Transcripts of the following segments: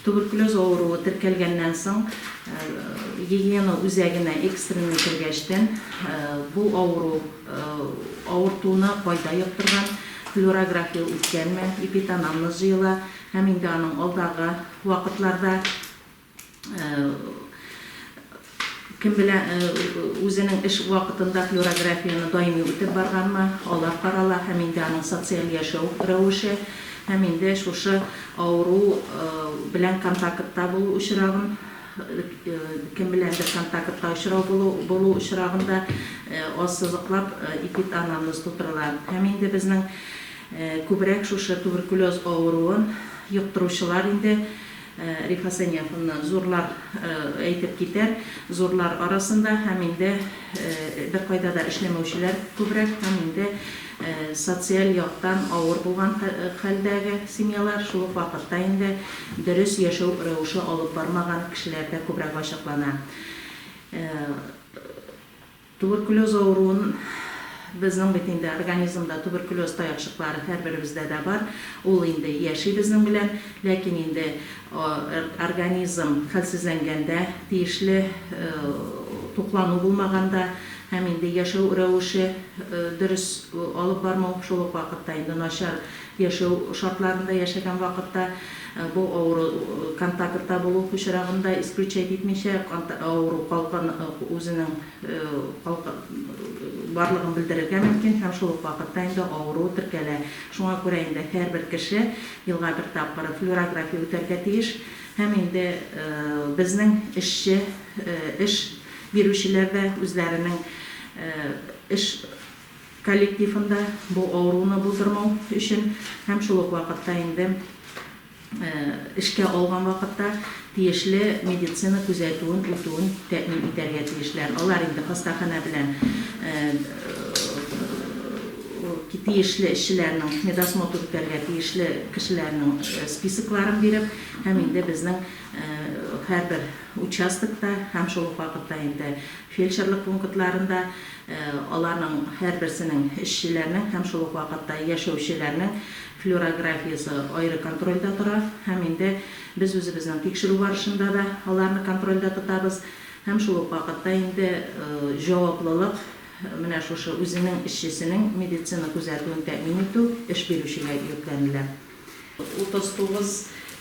Туберкулез авыруы теркәлгәннән соң Елена үзәгенә экстренный кергәчтен, бу авыру авыртуны кайда йоктырган, флюорография үткәнме, эпитанамнез җыела һәм инде аның алдагы вакытларда Кем белә, үзенең эш вакытында флюорографияне даими үтеп барганмы, алар карала һәм инде аның социаль яшәү рәвеше һәм инде шушы авыру белән контактта булу очрагын, кем беләндер контактта очрау булу булу очрагын да ассызыклап эпид-анамнез тутырыла. Һәм инде безнең күбрәк шушы туберкулез авыруын йоктыручылар инде Рифа Сәниаховна, зурлар әйтеп китәр, зурлар арасында һәм инде беркайда да эшләмәүчеләр күбрәк һәм инде социаль яктан авыр булган хәлдәге семьялар, шул ук вакытта инде дөрес яшәү рәвеше алып бармаган кешеләр дә күбрәк ачыклана. Туберкулез авыруын безнең бит инде организмда туберкулез таякчыклары һәрберебездә дә бар, ул инде яши безнең белән, ләкин инде организм хәлсезләнгәндә, тиешле туклану булмаганда һәм инде яшәү рәвеше дөрес алып бармау, шул ук вакытта инде начар Яшәү шартларында яшәгән вакытта бу авыру контактта булу очрагын да исключать итмичә, авыру калган үзенең барлыгын белдерергә мөмкин һәм шул ук вакытта инде авыру теркәлә. Шуңа күрә инде һәрбер кеше елга бер тапкыр флюорография үтәргә тиеш һәм инде безнең эшче, эш бирүчеләр дә үзләренең эш, коллективында бу авыруны булдырмау өчен һәм шул ук вакытта инде эшкә алган вакытта тиешле медицина күзәтүен үтүен тәэмин итәргә тиешләр. Алар инде хастаханә белән тиешле эшчеләрнең медосмотр үтәргә тиешле кешеләрнең списокларын биреп һәм инде безнең һәрбер участокта һәм шул ук вакытта инде фельдшерлык пунктларында Аларның һәрберсенең, эшчеләрнең һәм шул ук вакытта яшәүчеләрнең флюорографиясе аеры контрольдә тора һәм инде без үзебезнең тикшерү барышында да аларны контрольдә тотабыз һәм шул ук вакытта инде җаваплылык менә шушы үзенең эшчесенең медицина күзәтүен тәэмин итү эш бирүчегә йөкләнелә. 39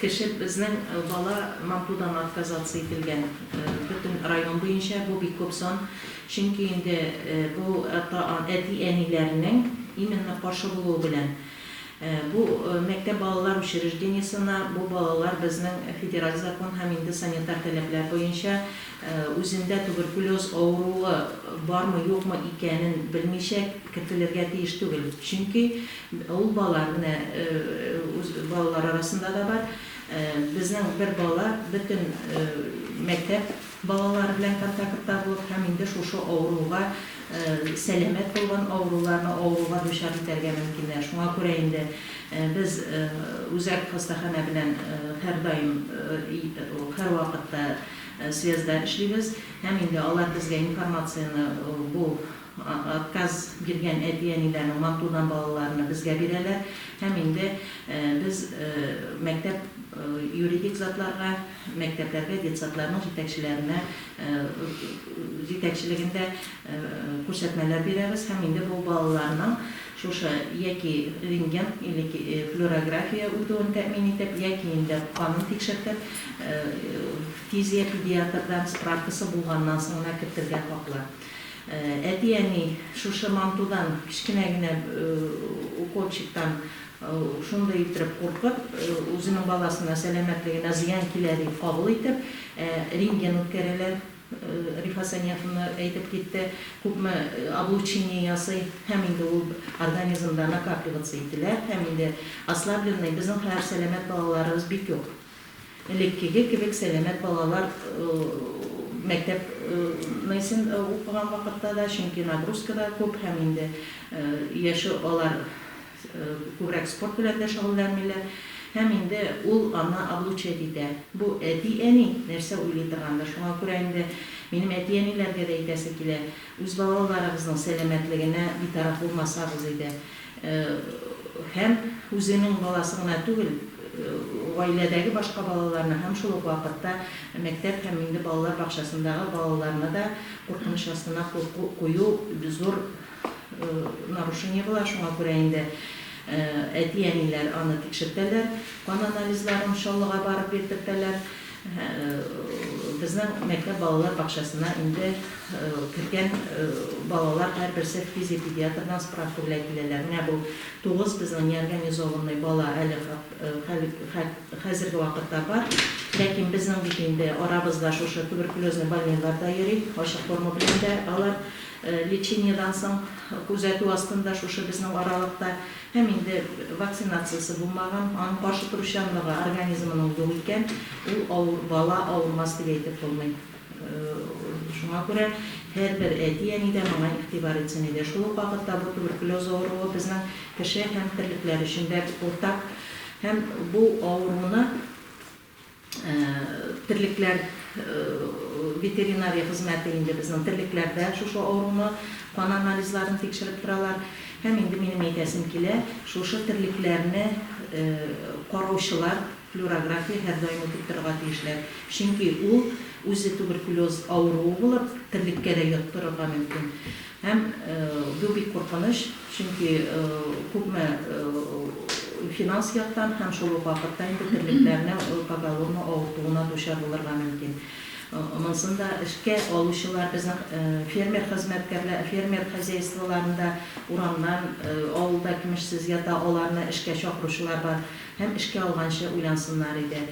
кеше безнең бала мантудан отказаться ителгән. Бөтен район буенча бу бик күп сан. Чөнки инде бу әти-әниләрнең именно каршы булуы белән. Бу мәктәп балалар учреждениесенә бу балалар безнең федераль закон һәм инде санитар таләпләр буенча үзендә туберкулез авыруы бармы-юкмы икәнен белмичә кертелергә тиеш түгел. Чөнки Ул балалар менә үз балалар арасында да бар. Безнең бер бала бөтен мәктәп балалары белән контактта булып һәм инде шушы авыруга сәламәт булган авыруларны авыруга дучар итәргә мөмкиннәр. Шуңа күрә инде без үзәк хастаханә белән һәрдаим һәрвакытта связьда эшлибез һәм инде алар безгә информацияне бу Отказ биргән әти-әниләрнең мантудан балаларны безгә бирәләр һәм инде без мәктәп юридик затларга, мәктәпләргә детсадларның җитәкчеләренә җитәкчелегендә күрсәтмәләр бирәбез һәм инде бу балаларның шушы яки рентген или флюорография үтүен тәэмин итеп, яки инде канын тикшертеп, фтизия-педиатрдан справкасы булганнан соң гына кертергә хаклы. Әти-әни шушы мантудан, кечкенә генә уколчиктан шундый иттереп куркып, үзенең баласына сәламәтлегенә зыян килә дип кабул итеп, рентген үткәрәләр, Рифа Саниаховна әйтеп китте, күпме облучение ясый һәм инде ул организмда накапливаться ителә һәм инде ослабленный, безнең хәер сәламәт балаларыбыз бик юк. Элеккеге кебек сәламәт балалар мәктәп наисен укыган вакытта да, чөнки нагрузка да күп һәм инде яше алар күбрәк спорт белән дә шөгыльләнмиләр һәм инде ул аны облучать итә. Бу әти-әни нәрсә уйлый торгандыр, шуңа күрә инде минем әти-әниләргә дә әйтәсе килә, үз балаларыгызның сәламәтлегенә битараф булмасагыз иде. Һәм үзенең баласы гына түгел, гаиләдәге башка балаларны һәм шул ук вакытта мәктәп һәм инде балалар бакчасындагы балаларны да куркыныч астына кую зур нарушение була, шуңа күрә инде әти-әниләр аны тикшертәләр, кан анализларын Чаллыга барып бирдертәләр. Безнең мәктәп балалар бакчасына инде кергән балалар һәрберсе физиопедиатрдан справка белән киләләр. Менә бу тугыз безнең неорганизованный бала әле хәзерге вакытта бар. Ләкин безнең бит инде арабызда шушы туберкулезный больныйлар да йөри, ачык форма белән дә алар лечениедән соң күзәтү астында шушы безнең аралыкта. Һәм инде вакцинациясе булмаган, аның каршы торучанлыгы организмының юк икән, ул авыр, бала авырмас дип әйтеп булмый. Шуңа күрә һәрбер әти-әни дә моңа игътибар итсен иде. Шул ук вакытта бу туберкулез авыруы безнең кеше һәм терлекләр өчен дә уртак. Һәм бу авыруны. Терлекләр ветеринария хезмәте инде безнең терлекләрдә шушы авыруны, кан анализларын тикшереп торалар. Һәм инде минем әйтәсем килә, шушы терлекләрне караучылар флюорография һәрдаим үтеп торырга тиешләр. Чөнки ул үзе туберкулез авыруы булып, терлеккә дә йоктырырга мөмкин. Һәм бу бик куркыныч, чөнки күпме финанс яктан һәм шул ук вакытта инде терлекләрнең поголовно авыртуына дучар булырга мөмкин. Монысын да эшкә алучылар, безнең фермер хезмәткәрләр, фермер хозяйстволарында урамнан, авылда кимешсез ята, аларны эшкә чакыручылар бар. Һәм эшкә алганчы уйлансыннар иде.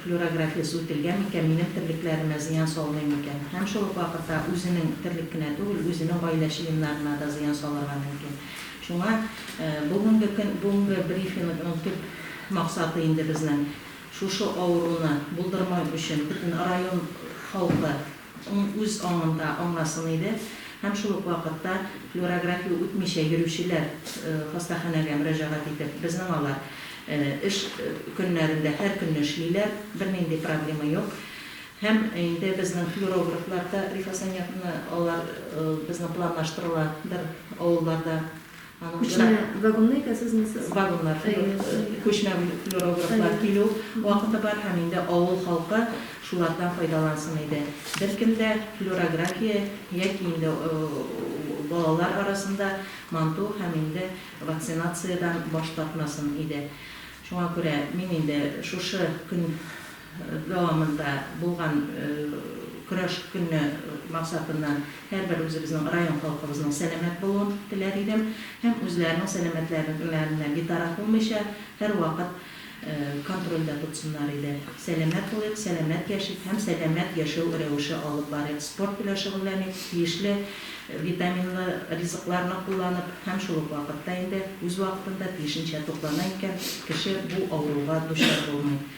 Флюорографиясе үтелгән микән, минем терлекләремә зыян салмый микән? Һәм шул ук вакытта үзенең терлек кенә түгел, үзенең гаилә членнарына да зыян салырга мөмкин. Шуңа бүгенге көн, бүгенге брифингның төп максаты инде безнең, шушы авыруны булдырмау өчен бөтен район халкы, Ул үз аңында аңласын иде һәм шул ук вакытта флюорография үтмичә йөрүчеләр хастаханәгә мөрәҗәгать итеп, безнең алар эш көннәрендә һәркөнне эшлиләр, бернинди проблема юк. Һәм инде безнең флюорографлар да, Рифа Саниятовна, алар безнең планлаштырыла бер авылларда Күчмә вагонлы икәнсез ме сез? Вагоннар, күчмә флюорографлар килү вакыты бар һәм инде авыл халкы шулардан файдалансын иде. Беркем дә флюорография яки инде балалар арасында манту һәм инде вакцинациядән баш тартмасын иде. Шуңа күрә мин инде шушы көн дәвамында булган көрәш көне максатыннан һәрбер үзебезнең район халкыбызның сәламәт булуын теләр идем һәм үзләренең сәламәтләренә битараф булмыйча, һәрвакыт контрольдә тотсыннар иде. Сәламәт булыйк, сәламәт яшик һәм сәламәт яшәү рәвеше алып барыйк, спорт белән шөгыльләник, тиешле витаминлы ризыкларны кулланып һәм шул ук вакытта инде үз вакытында тиешенчә туклана икән, кеше бу авыруга дучар булмый.